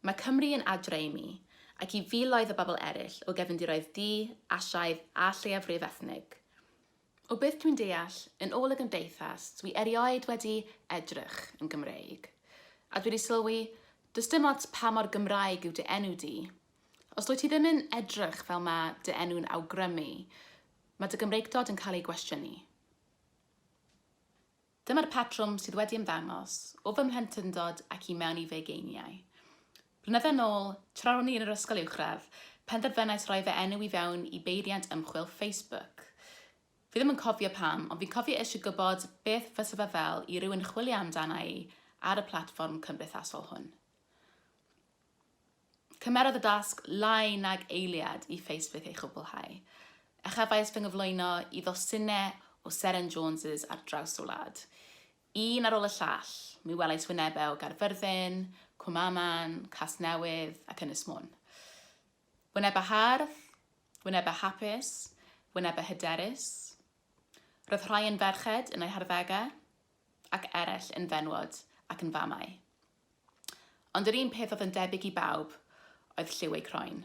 Mae Cymru yn adre i mi, ac i filoedd o bobl eraill o gefndiroedd du, Asiaidd a lleiafrif ethnig. O beth dwi'n deall, yn ôl y gymdeithas, dwi erioed wedi edrych yn Gymreig. A dwi wedi sylwi, does dim ots pa mor Gymraeg yw dy enw di, os dwyt ti ddim yn edrych fel mae dy enw'n awgrymu, mae dy Gymreigdod yn cael ei gwestiynu. Dyma'r patrwm sydd wedi ymddangos o fy mhlentyndod ac i mewn i fy ugeiniau. Blynydde yn ôl, tra ro'n i yn yr ysgol uwchradd, penderfynais roi fy enw i fewn i beiriant ymchwil Facebook. Fi ddim yn cofio pam, ond fi'n cofio eisiau gwybod beth fysa fe fel i rywun chwilio amdana i ar y platfform cymdeithasol hwn. Cymerodd y dasg lai nag eiliad i Facebook ei chwblhau, a chefais fy nghyflwyno i ddosynau o seren Jones' ar draws y wlad. Un ar ôl y llall, mi welais wynebau o Gaerfyrddin, Cwm Aman, Casnewydd ac Ynys Môn. Wynebau hardd, wynebau hapus, wynebau hyderus. Roedd rhai yn ferched yn eu harddegau, ac eraill yn fenywod ac yn famau. Ond yr un peth oedd yn debyg i bawb oedd lliw ei croen.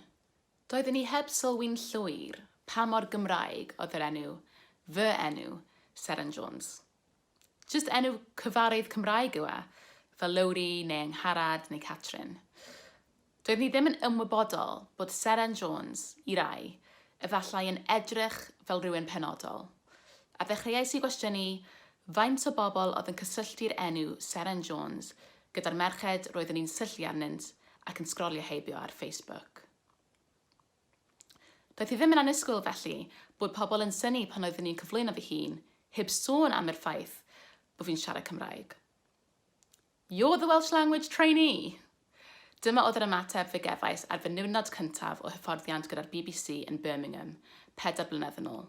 Doedden ni heb sylwi'n llwyr pa mor Gymraeg oedd yr enw, fy enw, Seren Jones. Jyst enw cyfarwydd Cymraeg yw e, fel Lowri neu Angharad neu Catrin. Doedd hi ddim yn ymwybodol bod Seren Jones, i rai, efallai yn edrych fel rhywun penodol, a ddechreuais i gwestiynu faint o bobl oedd yn cysylltu'r enw Seren Jones gyda'r merched roeddwn i'n syllu arnynt ac yn sgrolio heibio ar Facebook. Doedd hi ddim yn annisgwyl, felly, bod pobl yn synnu pan oeddwn i'n cyflwyno fy hun, heb sôn am yr ffaith bod fi'n siarad Cymraeg. You're the Welsh Language Trainee! Dyma oedd yr ymateb fe gefais ar fy niwrnod cyntaf o hyfforddiant gyda'r bbc yn Birmingham, pedair blynedd yn ôl.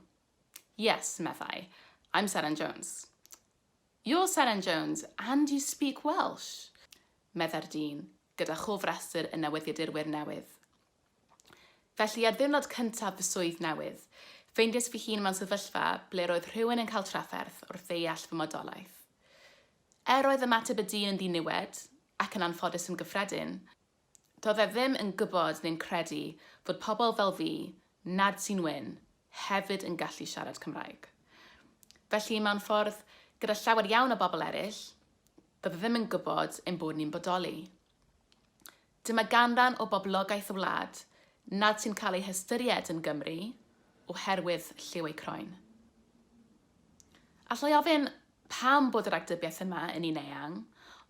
Yes, meddai, I'm Seren Jones. You're Seren Jones, and you speak Welsh! meddai'r dyn, gyda chofrestr y newyddiadurwyr newydd. Felly, ar ddiwrnod cyntaf fy swydd newydd, ffeindiais fy hun mewn sefyllfa ble roedd rhywun yn cael trafferth wrth ddeall fy modolaeth. Er oedd ymateb y dyn yn ddiniwed, ac yn anffodus yn gyffredin, doedd e ddim yn gwybod neu'n credu fod pobl fel fi, nad sy'n wyn, hefyd yn gallu siarad Cymraeg. Felly, mewn ffordd, gyda llawer iawn o bobl eraill, doedd e ddim yn gwybod ein bod ni'n bodoli. Dyma ganran o boblogaeth y wlad nad sy'n cael ei hystyried yn Gymry oherwydd lliw eu croen. Alla i ofyn pam bod yr agdybiaeth yma yn un eang,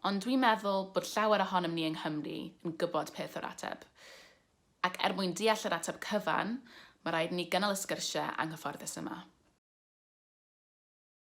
ond dwi'n meddwl bod llawer ohonom ni yng Nghymru yn gwybod peth o'r ateb. Ac er mwyn deall yr ateb cyfan, mae rhaid i ni gynnal y sgyrsiau anghyfforddus yma.